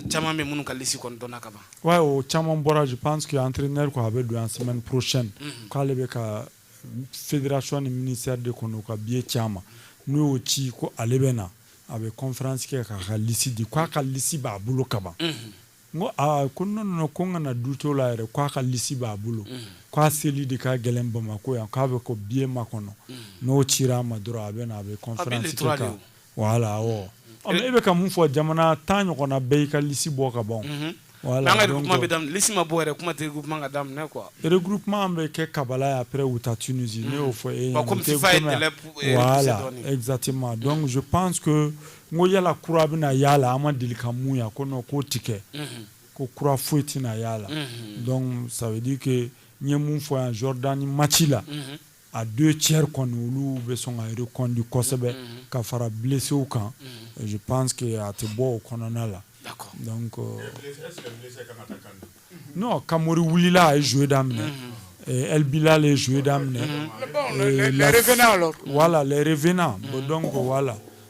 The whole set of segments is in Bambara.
Caman bɛ minnu ka lisi kɔnɔ dɔn ka ban wa o caman bɔra je pense que entraîneur ko a bɛ don yan semaine prochaine k'ale bɛ ka fédération ni ministère de kɔnɔ u ka biye ci a ma n'u y'o ci ko ale bɛ na a bɛ kɔnfransi kɛ k'a ka lisi di k'a ka lisi b'a bolo kaban ko aa ko n ko n kana doute o la yɛrɛ k'a ka lisi b'a bolo k'a seli de ka gɛlɛn bamakɔ yan k'a bɛ ka biye makɔnɔ n'o cira a ma dɔrɔn a bɛ na a bɛ voilà e bɛ ka mun fɔ jamana tan ɲɔgɔnna bɛɛ y'i ka lisi bɔ ka ban lisi ma bɔ kuma ka daminɛ quoi regroupement bɛ kɛ Kabala après u taa Tunisie ne y'o fɔ e exactement donc je pense que n ko yala kura bɛna ye a la an ma deli ka mun ye a ko k'o tɛ kɛ ko kura foyi tɛna ye a la donc ça veut dire que n ye mun fɔ yan Jordanie maci la a deux tiers kɔni olu bɛ sɔn ka reconduit kosɛbɛ mm-hmm. ka fara blessew kan mm-hmm. je pense que a tɛ bɔ o kɔnɔna la donc euh, non Kamori wulila a ye jouer daminɛ mm-hmm. El Bilal ye jouer daminɛ les revenants alors voilà les revenants donc voilà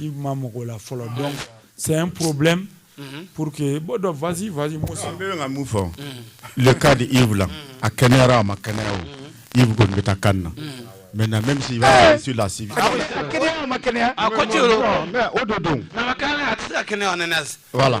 Yves ma maga a la fɔlɔ donc c'est un problème pour que bon donc vas-y vas-y Musa n bɛ ka mun fɔ le cas de Yves la a kɛnɛyara a ma kɛnɛya o Yves kɔni bɛ taa CAN na maintenant même s'il va sur la civière a kɛnɛyara a ma kɛnɛya a ko ci o don mais o don don a ma kɛnɛya a tɛ se ka kɛnɛya en NS voilà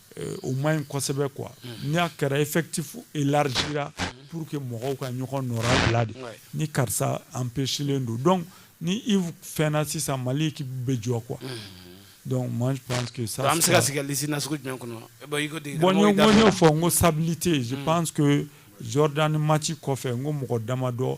euh, o man ɲi kosɛbɛ quoi ni a kɛra effectif élargira pour que mɔgɔw ka ɲɔgɔn nɔra bila de ni karisa empêchelen don donc ni Yves fɛnna sisan Mali équipe bɛ jɔ quoi donc moi je pense que ça an bɛ se ka sigi ka liste nasugu jumɛn kɔnɔ bon i ko de bon n y'o fɔ n ko stabilité je mm. pense que Jordanie match kɔfɛ n ko mɔgɔ damadɔ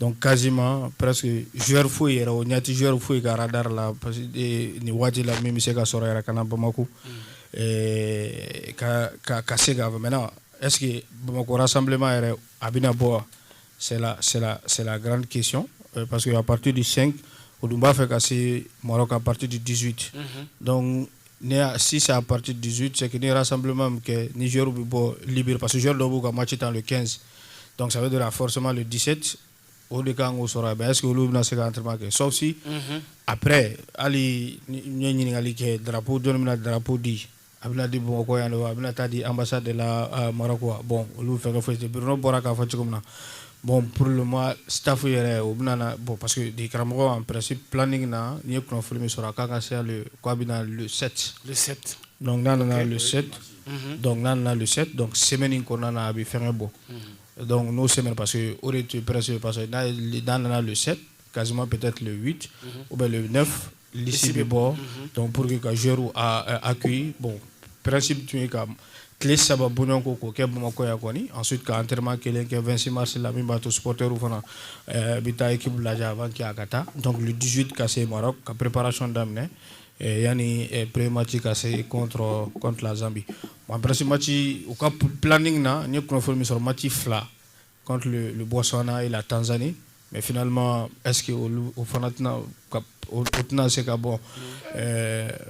dɔnkuc kazima pɛs zori foyi yɛrɛ o ɲɛti zori foyi ye ka da la parce nin waati la min bɛ se ka sɔrɔ yɛrɛ kana bamakɔ ka se ka mɛn ɛsseke bamakɔ sanbilenma yɛrɛ a bɛna bɔ garanran kec parce que a pati de sen o dun b'a fɛ ka se mara ka pati di dizsuti dɔnku Ne sisan a pati dusu cɛ n ne sanbilenma min kɛ ni z bɛ bɔ libi pa sro dɔw b'u ka ma ci tan don kɛnsin dɔnkuc bɛ don a fɔsama don diseti o de kan k'o sɔrɔ a mɛ se olu bɛna na se an teri kɛ sɔsi apɛ hali ɲɛ ɲininkakali kɛ dabu dɔ min na dabu di a bɛna di bamakɔ yan don a bɛna taa di anbasa de la mara bɔn olu fɛn foyi bɔra k'a fɔ cogo min na Bon pour le moment staff yɛrɛ u bɛna na bon parce que degekaramɔgɔ en principe planning na n ye kunnafoni min sɔrɔ a ka kan ka se le k'a bɛ na le 7 le 7 donc n'a nana le 7 mhm. donc n'a nana le 7 donc semaine in kɔnɔna na a bɛ fɛngɛ bɔ mhm. donc n'o semaine parce que o de tun ye presque parce que n'a nana le 7 quasiment peut-être le 8 mhm. ou bien le 9 lisi bɛ bɔ dɔn pur que ka zoriw a koi bɔn pɛsi tun yen ka tile saba bo ko k'o kɛ bamakɔya kɔni an su k'an terirma kelen kɛ2simarisi la min b'a to sɔɔriw fana bɛ taa k'u bila a b'a kɛ a ka taa dɔnkili dusu ka se mara ka perepsiyɔn daminɛ yanni perepmati ka se kɔnfi zansabi wa pɛsimaci u ka p pini na n ye kunnafoni min sɔrɔ mati fila Kɔntu bɔnsɔnna e la tanzsanni mɛ flima ɛsseke o fana tɛna o tɛna se ka bɔ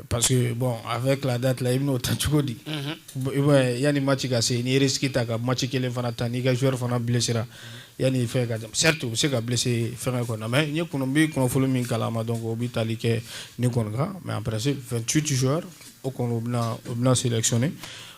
pa bɔn a fɛ tila da tila i bɛna'o ta cogo di i yanani ma ci ka se n'i yɛrɛ sigi ta ka ma ci kelen fana ta n'i ka shɛri fana bilasira yanani fɛn ka seri u bɛ se ka bilisi fɛn kɔnɔ mɛ n bɛ kɔnɔfolo min kalan ma dɔn o bɛ taali kɛ ni kɔnɔkan mɛ an psi fɛn tu tɛyara o u bɛna siri sɔni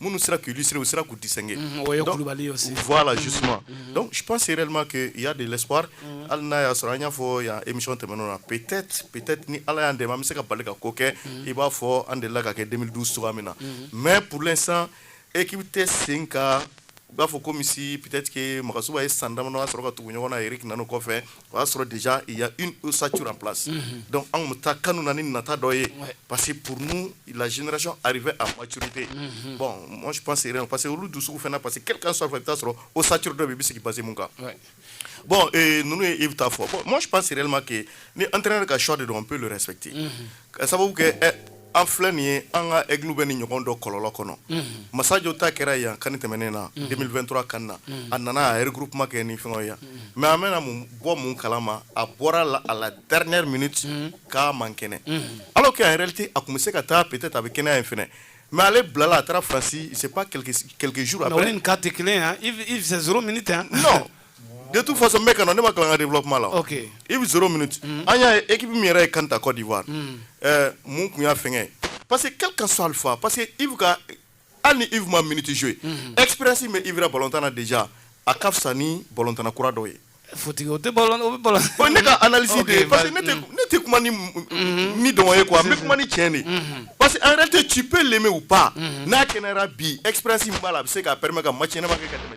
minnu sera k'u illustrer u sera k'u distinguer mm, o ye kulubali ye aussi voilà justement mm, mm, donc je pense réellement que il y a de l'espoir hali n'a y'a sɔrɔ an y'a fɔ yan émission tɛmɛnenw na peut-être peut-être ni ala y'an dɛmɛ an bɛ se ka bali ka ko kɛ i b'a fɔ an delila k'a kɛ 2012 cogoya min na mais pour l'instant équipe tɛ sen kan i b'a fɔ comme si peut-être que magasuba ye san damadɔ sɔrɔ ka tugu ɲɔgɔn na eric nanu kɔfɛ o y'a sɔrɔ déjà il y a une ossature en place donc anw bɛ taa CAN na ni nata dɔ ye parce que pour nous la génération arrivée à maturité bon moi je pense rien parce que olu dusuw fana parce que quel qu'en soit i bɛ taa sɔrɔ ossature dɔ bɛ yen i bɛ sigi base mun kan bon euh, ninnu ye yves ta fɔ bon moi je pense réellement que ni entraîneur ka choix de don on peut le respecter ka sababu kɛ an filɛ nin ye an ka ekilu bɛ ni ɲɔgɔn dɔ kɔlɔlɔ kɔnɔ masajɔ ta kɛra yan kan tɛmɛnen na denmisɛnninmi2 kan na a nana a yɛrɛ guruk kuma kɛ ni fɛn yan mɛ an bɛna mun bɔ minnu kala ma a bɔra la a la garir minɛ ten k'a man kɛnɛ ala kɛ a yɛrɛte a tun bɛ se ka taa pte a bɛ kɛnɛya in fana mɛ ale bilala a taarasi kɛlɛkɛjuru a kate kelen yan i s minɛ ta de tu faso bɛ ka ne ma kalan dela kuma la i bɛ s min an y'a e bɛ min yɛrɛ ye kanta kɔ diwa mun tun y'a fɛn pa que ka ka sa alifa pa que i bɛ hali ni i ma miniti so ye epsi bɛ i balotan de ja a ka fisa ni balotan kura dɔ ye o tɛ ne ka ala de parce que ne tɛ kuma ni dɔgɔ ye kuwa an bɛ kuma ni cɛ de parce que an yɛrɛ tɛ cipe lenmɛ u pan n'a kɛnɛyara bi epsi b'a la a bɛ se k'a pɛmɛ ka ma cɛma kɛ ka tɛmɛ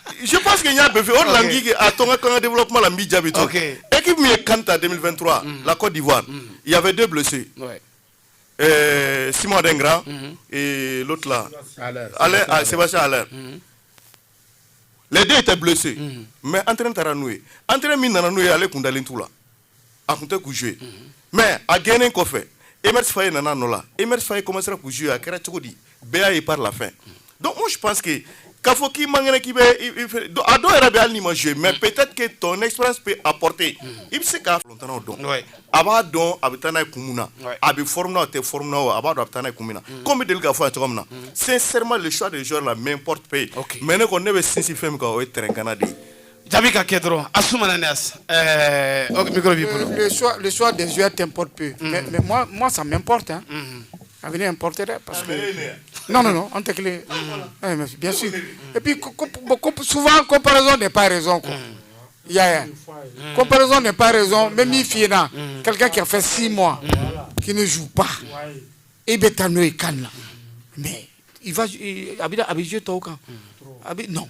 je pense que n y'a bɛɛ fɛ o de la n k'i kɛ a to n ka tila n ka développement la n b'i jaabi to équipe min ye CAN ta 2023 mm. la Côte d'Ivoire mm. il y avait deux blessés euh, Simon Adingra mm-hmm. et l'autre là Haller ah, Sébastien Haller mm-hmm. les deux étaient blessés mm-hmm. mais entraîneur taara n'u ye entraîneur min nana n'u ye ale kun dalen t'u la a tun tɛ k'u jouer mais a gɛnnen kɔfɛ Emerse Faé nana a nɔ la Emerse Faé commencera k'u jouer a kɛra cogo di bɛɛ y'a ye par la fin donc moi je pense que k'a fɔ k'i man kɛnɛ k'i bɛ a dɔw yɛrɛ bɛ hali n'i ma jouer mais peut-être que ton expérience peut apporter i bɛ se k'a fɔ l'entraîneur don Ouais. a b'a dɔn a bɛ taa n'a ye kun min na Ouais. a bɛ forme na a tɛ forme na o a b'a dɔn a bɛ taa n'a ye kun min na comme bɛ deli k'a fɔ a ye cogo min na sincèrement le choix des joueurs là m'importe peu Ok. mais ne kɔni ne bɛ sinsin fɛn min kan o ye terrain kan na de ye Jaabi ka kɛ dɔrɔn a su ma Athanase ɛɛ ok micro b'i bolo. Le choix le choix des joueurs t'importe peu. Unhun mais mais moi moi ça m'importe hein. Unhun a bɛ ne importer dɛ parce que non non non an tɛ kelen ye. Unhun ɛɛ mais bien sûr et puis ko ko bon ko souvent comparaison n'est pas raison quoi. Unhun i y'a ye wa. Comparaison n'est pas raison n bɛ min f'i ɲɛna. Unhun quelqu'un qui a fait six mois. Unhun qui ne joue pas. Ouais e bɛ taa n'o ye CAN na mais il va a bɛ a bɛ jouer tɔw kan. Unhun trop a bɛ non.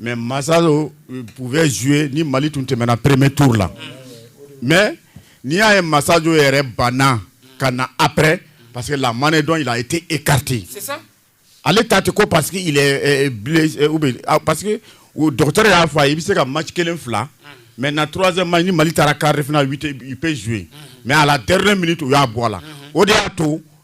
mɛ masa don u bɛ zuo ni mali tun tɛmɛna pereme tuuru la mɛ n'i y'a ye masajo yɛrɛ banna ka na apɛ parce que la manden dɔn la i tɛ e karite ale ta tɛ ko pa que que dɔgɔtɔrɔ y'a fɔ a i bɛ se ka ma kelen fila mɛ na tz ma ni mali taara karif zuo mɛ ala teri minɛ u y'a bɔ a la o de y'a to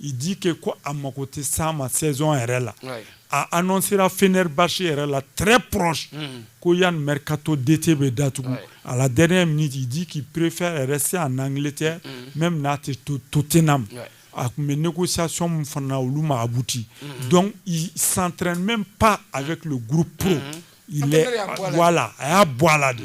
I di kɛ ko a mako tɛ sa ma sɛson yɛrɛ la a n sera fri basi yɛrɛ la tre pɔs ko yan m ka to dete bɛ datugu a la d min tɛ di k'i perepfe yɛrɛ se a n kelen tɛ mɛ min n'a tɛ to to tena a tun bɛ ne ko sasɔn min fana olu mabuti dɔn sanrren bɛ pan a bɛ tile gp a y'a bɔ a la de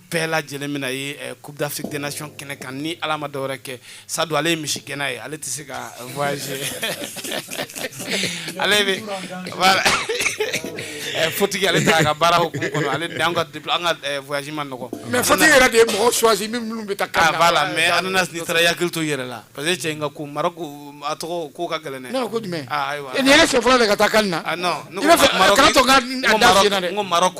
bɛɛ lajɛlen min ye eh, coupe d'afrique des nations kɛnɛ kan ni ala ma dɔwɛrɛ kɛ sadu ale ye misigɛnna ye ale tɛ se ka voyager ale bɛ voilà eh, fotigi ale t'a ka baara hukumu kɔnɔ ale de an ka an ka eh, voyage man nɔgɔ mais fotigi yɛrɛ de ye mɔgɔ choisi min minnu bɛ taa CAN ah, voilà mais Athanase n'i taara i hakili to i yɛrɛ la parce que cɛ in ka ko maroc a tɔgɔ ko ka gɛlɛn dɛ ne ko jumɛn ah, ayiwa nin ye ne siɲɛ fɔlɔ de ka taa CAN na ah, non ne ko maroc n ko maroc